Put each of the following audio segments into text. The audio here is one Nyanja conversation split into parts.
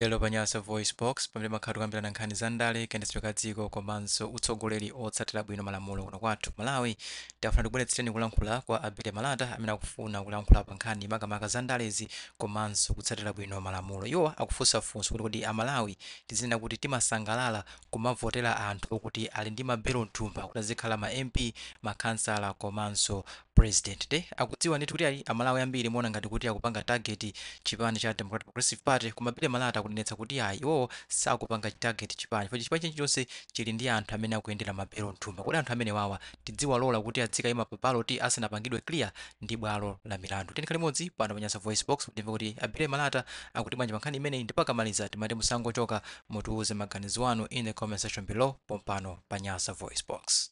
Lero pa Nyasa VoiceBox, pamene timakhala tikukambirana nkhani za ndale, kayendetsedwe ka dziko komanso utsogoleri otsatira bwino malamulo kuno kwathu Malawi, tafuna tibweretsereni kulankhula kwa a Billy Malata amene akufuna kulankhula pa nkhani makamaka za ndalezi komanso kutsatira bwino malamulo. Iwo akufunsa funso kuti kodi a Malawi tizinena kuti timasangalala kumavotera anthu okuti ali ndi ma belo mthumba kuti azikhala ma MP, ma khansala komanso President nde akudziwa ndithu kuti ayi amalawi ambiri muwona ngati kuti akupanga target chipani cha Democratic Progressive Party koma Billy Malata akunenetsa kuti ayi iwowo sakupanga target chipani chifukwa chipani chilichonse chili ndi anthu amene akuyendera ma belo mthumba kodi anthu amenewawa tidziwalola kuti adzikayima pa ballot asanapangidwe clear ndi bwalo la milandu tikhale limodzi pano pa Nyasa Voice Box kuti timve kuti a Billy Malata akuti bwanji pa nkhani imeneyi ndipo akamaliza timati musangochoka mutiuze maganizo anu in the comment section below pompano pa Nyasa Voice Box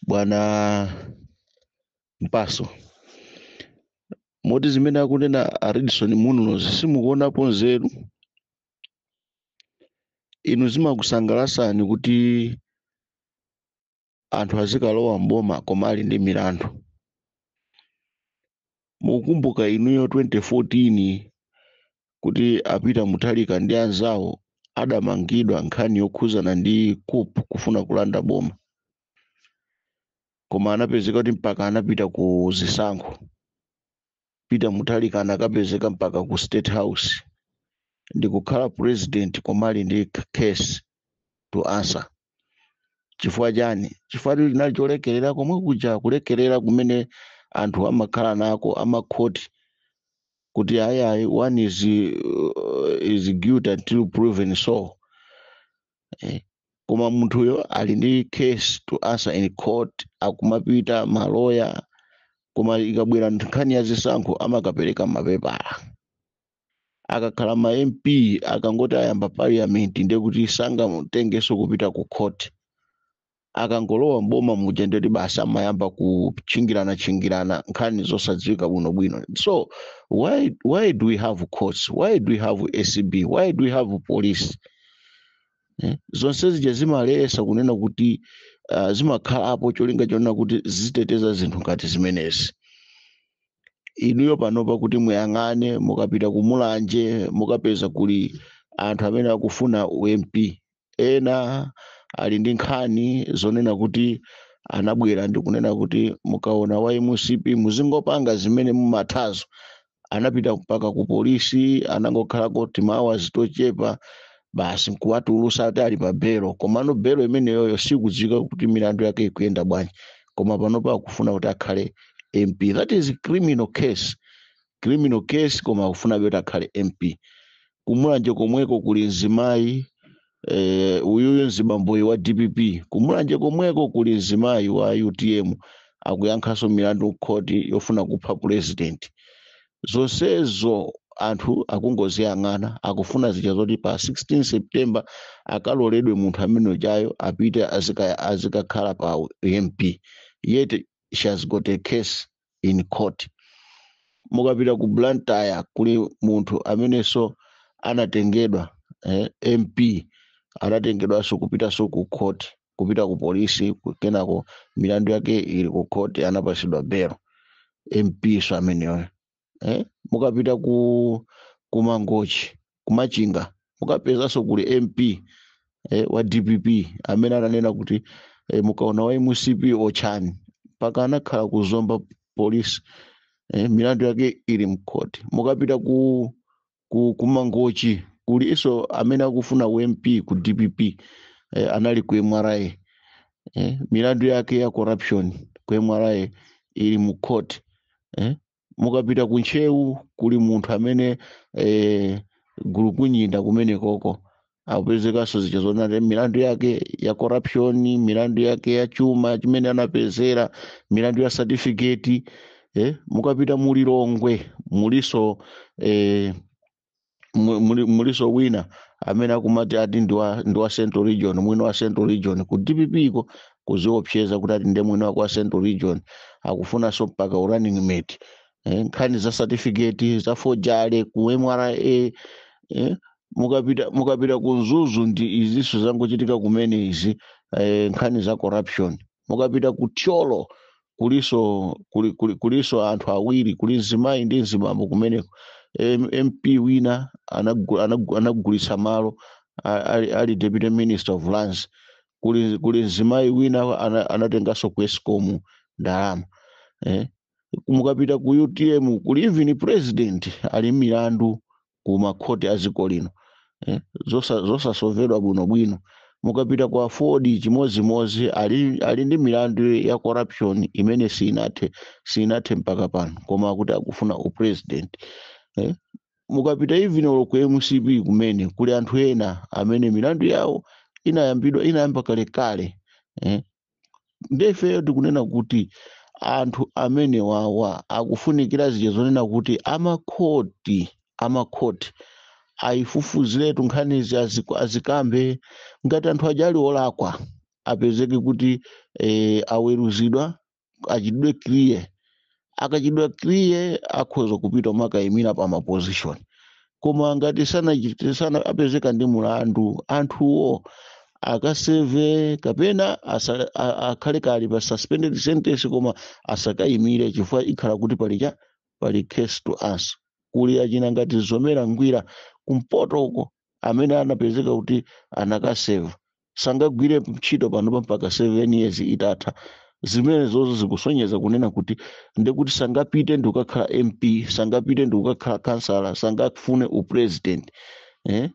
bwana mpaso moti zimene akunena a Redson Munlo simukuonapo nzeru inu zimakusangalasani kuti anthu azikalowa mboma koma ali ndi milandu mukukumbuka inuyo 2014 kuti a Peter Mutharika ndi anzawo adamangidwa nkhani yokhuzana ndi coup kufuna kulanda boma koma anapezeka kuti mpaka anapita ku zisankho Peter Mutharika anakapezeka mpaka ku state house ndikukhala president koma ali ndi case to answer chifukwa chani chifukwa chinali cholekerera komwe kuja kulekerera kumene anthu amakhala nako amakhoti kuti ayi ayi one is, uh, is guilty until proven so eh. koma munthuyo ali ndi case to answer in court akumapita maloya koma ikabwera nkhani ya zisankho amakapereka mapepala akakhala ma mp akangoti ayamba parliament ndiye kuti sangamutengenso kupita ku court akangolowa mboma muja ndiye kuti basi amayamba kutchingirana tchingirana nkhani zosadziwika bwinobwino so why, why do we have courts why do we have acb why do we have police eh? zonse zija zimalesa kunena kuti uh, zimakhalapo cholinga chonena kuti ziteteza zinthu ngati zimenezi inuyo panopa kuti muyang'ane mukapita ku mulanje mukapeza kuli anthu amene akufuna u MP ena ali ndi nkhani zonena kuti anabwera ndi kunena kuti mukaona wa mcp muzingopanga zimene mumathazo anapita mpaka ku polisi anangokhalako timaawazi tochepa basi nkuwatulusa ati ali pa belo komano belo imeneyoyo sikudziwika kuti milandu yake ikuyenda bwanji koma panopa akufuna kuti akhale mp that is criminal case criminal case koma akufunabe kuti akhale mp kumulanje komweko kuli mzimayi eh, uyuyu mzibamboyu wa dpp kumulanje komweko kuli mzimayi wa utm akuyankhanso milandu ku khoti yofuna kupha president zonsezo anthu akungoziyang'ana akufuna zija zoti pa 16 september akaloledwe munthu amene ujayo apite azika- azikakhala pa mp yet she has got a case in court mukapita ku blantyre kuli munthu amenenso anatengedwa eh, mp anatengedwanso kupitanso ku court kupita ku polisi ku- kenako milandu yake ili ku khoti anapatsidwa belo mpso ameneyo eh? mukapita ku ku mangochi ku machinga mukapezanso kuli mp eh, wa dpp amene ananena kuti eh, mukaona wa mcp otchani mpaka anakhala ku zomba polisi eh, milandu yake ili mkhoti mukapita ku ku, ku mangochi kulinso amene akufuna u mp ku dpp eh, anali ku mra eh, milandu yake ya corruption ku mra ili mu court eh, mukapita ku ntcheu kuli munthu amene eh, gulukunyinda kumenekoko apezekanso zija zoti milandu yake ya corruption milandu yake ya chuma chimene anapezera milandu ya certificate eh, mukapita mulilongwe muliso eh, mu- muli- muliso wina amene akumati ati ndi wa ndi wa central region mwini wa central region ku dpp iko kuziopseza kuti ati ndi mwini wake wa central region akufunanso mpaka u running mate eh, nkhani za certificate za fojale ku mra eh, mukapita mukapita ku mzuzu ndi izinso zangochitika kumene izi eh, nkhani za corruption mukapita ku thyolo kulinso kuli, kuli, kulinso anthu awiri kuli mzimayi ndi mzibambo kumeneko M- mp wina anagu- anagu- anagulitsa malo a- ali, ali deputy minister of lands kuli, kuli mzimayi wina ana- anatenganso ku escom ndalama eh? mukapita ku utm kuli even president ali mmilandu ku makhoti a dziko lino eh, zosa- zosasovedwa bwinobwino mukapita kwa aford chimodzimodzi ali, ali ndi milandu ya corruption imene sinathe sinathe mpaka pano koma akuti akufuna upresident eh? mukapita even olo ku mcp kumene kuli anthu ena amene milandu yawo inayambidwa inayamba kalekale eh? nde ifeyo tikunena kuti anthu amene wawa akufunikira zija zonena kuti amakhoti amakhoti ayifufuziretu nkhanizi aziku- azikambe ngati anthu aja ali olakwa apezeke kuti eh, aweruzidwa achitidwe clear akachitidwa clear akhoza kupita umakayimira pa maposition koma ngati sanachite sana apezeka ndi mulandu anthuwo akaseve kapena asa, a- akhale kali pa suspended sentence koma asakayimire chifukwa ikhala kuti pali cha pali case to answer kuli achina ngati zomera ngwira kumpoto uko amene anapezeka kuti anakaseva sangagwire ntchito panopa mpaka 7 years itatha zimenezozo zikusonyeza kunena kuti ndekuti sangapite ndikukakhala mp sangapite ndikukakhala kansala sangafune upresident eh?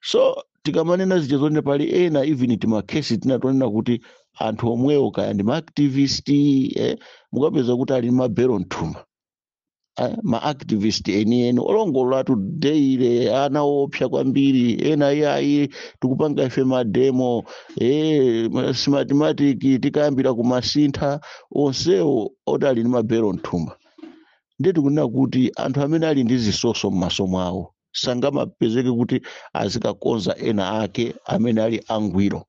so tikamanena zija zonena pali ena even timakhesi tina tonena kuti anthu omwewo kaya ndi maactivist eh? mukapeza kuti ali ndi mabelo mthumba Ah, ma activist enieni olongololatu daily ana opsa kwambiri ena iyayi tikupanga ife mademo eh, ma- smartmatic tikayambira kumasintha onsewo oti ali ndi mabelo mthumba ndiye tikunena kuti anthu amene ali ndi zisoso m'maso mwawo sangamapezeke kuti azikakonza ena ake amene ali angwiro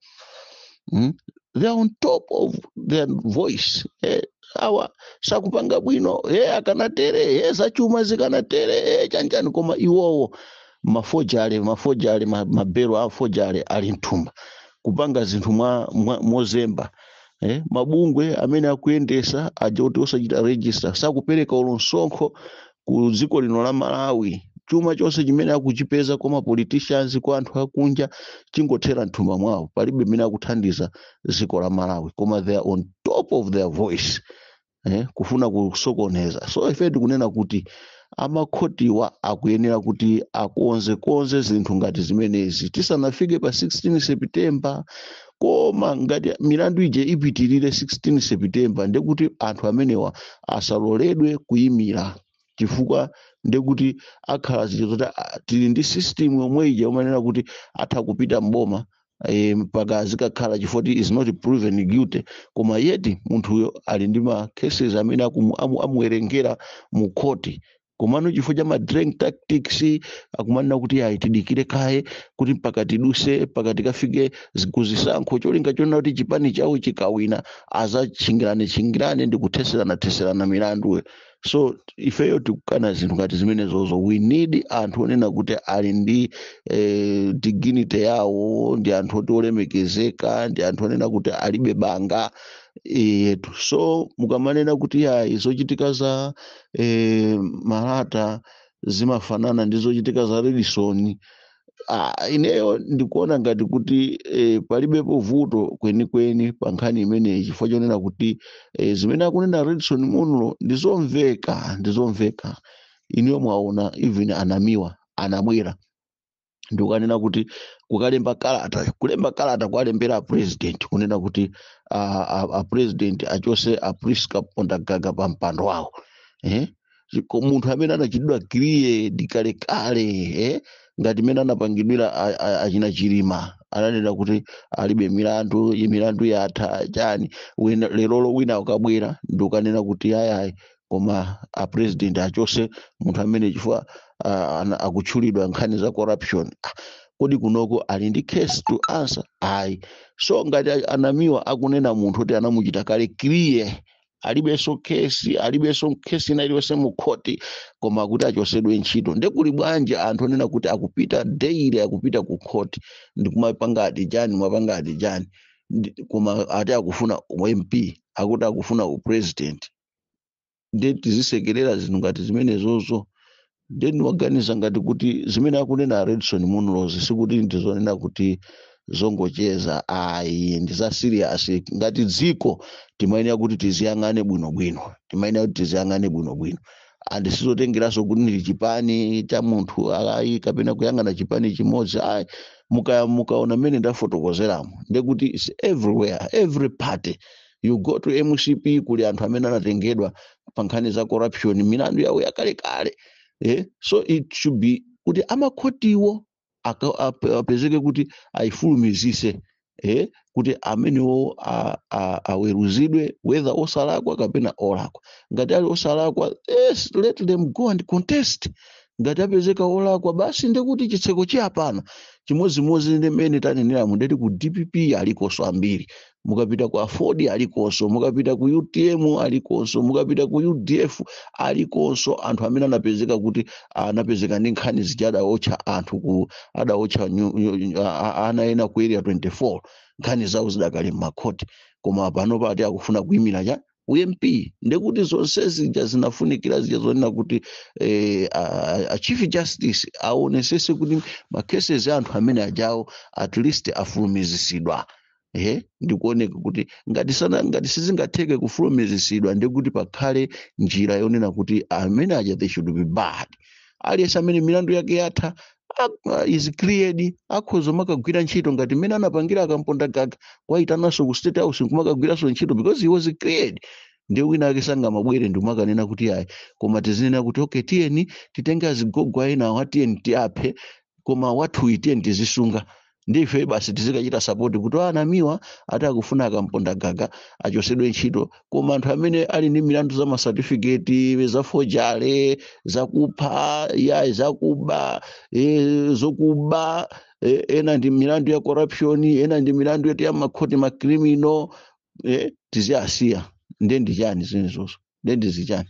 mm? they are on top of their voice eh, awa sakupanga bwino eh, akanatere eh, zachuma zikanatere eh, chanjani koma iwowo mafojale mafojale ma- mabelo a fojale ali mthumba kupanga zinthu mwa, mwa, mozemba eh, mabungwe amene akuyendesa aja kuti osachita register sakupereka olo nsonkho ku dziko lino la malawi chuma chonse chimene akuchipeza kwa mapoliticians kwa anthu akunja chingothera mthumba mwawo palibe mmene akuthandiza dziko la malawi koma they are on top of their voice eh, kufuna kusokoneza so ife tikunena kuti amakhotiwa akuyenera kuti akonzekonze zinthu ngati zimenezi tisanafike pa 16 september koma ngati milandu ija ipitirire 16 september ndekuti anthu amenewa asaloledwe kuyimira chifukwa ndekuti akhala zija zoti ah, tili ndi system yomwe ija umanena kuti atha kupita mboma eh, mpaka azikakhala chifukwa choti is not proven guilty koma yeti munthuyo ali ndi ma cases amene akumu- amu- amuwerengera mu khoti komano chifukwa cha madrag tactics akumanena kuti ayi tidikire kaye kuti mpaka tiduse mpaka tikafike kuzisankho cholinga chonena kuti chipani chawo chikawina azatchingirane tchingirane ndi kutheserana theserana milandu so ifeyo tikukana zinthu ngati zimenezozo we need anthu onena kuti ali ndi eh, dignity yawo ndi anthu oti olemekezeka ndi anthu onena kuti alibe banga eh, yetu so mukamanena kuti ayi zochitika za eh, malata zimafanana ndi zochitika za redson Ah, ineyo ndikuona ngati kuti eh, palibepo vuto kwenikweni pa nkhani imeneyi chifukwa chonena kuti eh, zimene akunena redson munlo ndizomveka ndizomveka inuyo mwaona even anamiwa anabwera ndikukanena kuti kukalemba kalata kulemba kalata kuwalembera apresident kunena kuti apresident achose apriska kondagaga pa mpando wawo eh? Chiko- munthu amene anachitidwa cleared kalekale eh? ngati mene anapangidwira a- a- achina chilima ananena kuti alibe milandu iyi milandu yatha chani Wina- lerolo wina ukabwera ndikukanena kuti ayayi koma a president achose munthu amene chifukwa ah, ana- akutchulidwa nkhani za corruption Ah, kodi kunoko ali ndi case to answer ayi so ngati a- anamiwa akunena munthu kuti anamuchita kale clear alibenso kesi alibenso kesi ina iliyonse mu khoti koma kuti achosedwe ntchito nde kuli bwanji anthu onena kuti akupita daily akupita ku khoti ndikumapanga ati chani mwapanga ati chani Ndi- koma ati akufuna u mp akuti akufuna u president nde tizisekerera zinthu ngati zimenezozo nde ndimaganiza ngati kuti zimene akunena a redson munlozi sikuti ndizonena kuti zongocheza ayi ndi za serious ngati dziko timayenera kuti tiziyang'ane bwinobwino timayenera kuti tiziyang'ane bwinobwino and sizotengeranso kuti ndi chipani cha munthu ayi kapena kuyang'ana chipani chimodzi ayi muka- mukaona mmene ndafotokozeramo ndekuti its everywhere every party you go to mcp kuli anthu amene anatengedwa pa nkhani za corruption milandu yawo yakalekale eh? so it should be kuti amakhotiwo aka- ap- apezeke kuti ayifulumizise eh? kuti amenewo a- a- aweruzidwe whether osalakwa kapena olakwa ngati ali osalakwa yes, let them go and contest ngati apezeka olakwa basi ndekuti chitseko chayapana chimodzimodzi ndi mmene taneneramu ndeti ku dpp alikonso ambiri mukapita ku aford alikonso mukapita ku utm alikonso mukapita ku udf alikonso anthu amene anapezeka kuti anapezeka ndi nkhani zija adaotcha anthu ku adaotcha nyu- nyu- nyu- a- a- ana ena ku area 24 nkhani zawo zidakali m'makhoti koma pano pati akufuna kuimira cha ump ndekuti zonse zija zinafunikira zija zonena kuti eh, a, a- a chief justice aonesese kuti makeses a anthu amene ajawo at least afulumizisidwa ehe ndi kuoneka kuti ngati sana ngati sizingatheke kufulumizisidwa ndekuti pakhale njira yonena kuti amene aja they should be barred aliyense amene milandu yake yatha a- is cleared akhoza makagwira ntchito ngati mmene anapangira akamponda gaga awaitananso ku state house nkumakagwiranso ntchito because he was cleared ndiye wina ake sangamabwere ndimakanena kuti ayi koma tizinena kuti okay tiyeni titenge azigogo a enawa tiyeni tiaphe koma wathuyi tiyeni tizisunga ndi ife basi tizikachita sapoti kuti ana miwa ati akufuna kamponda gaga achosedwe ntchito koma anthu amene ali ndi milandu za masatifiketi za forgery zakupha ya zakuba e, zokuba e, ena ndi milandu ya corruption ena ndi milandu yoti ya makhoti ma criminal e, tiziasiya nde ndi chani zimenezo nde ndizichani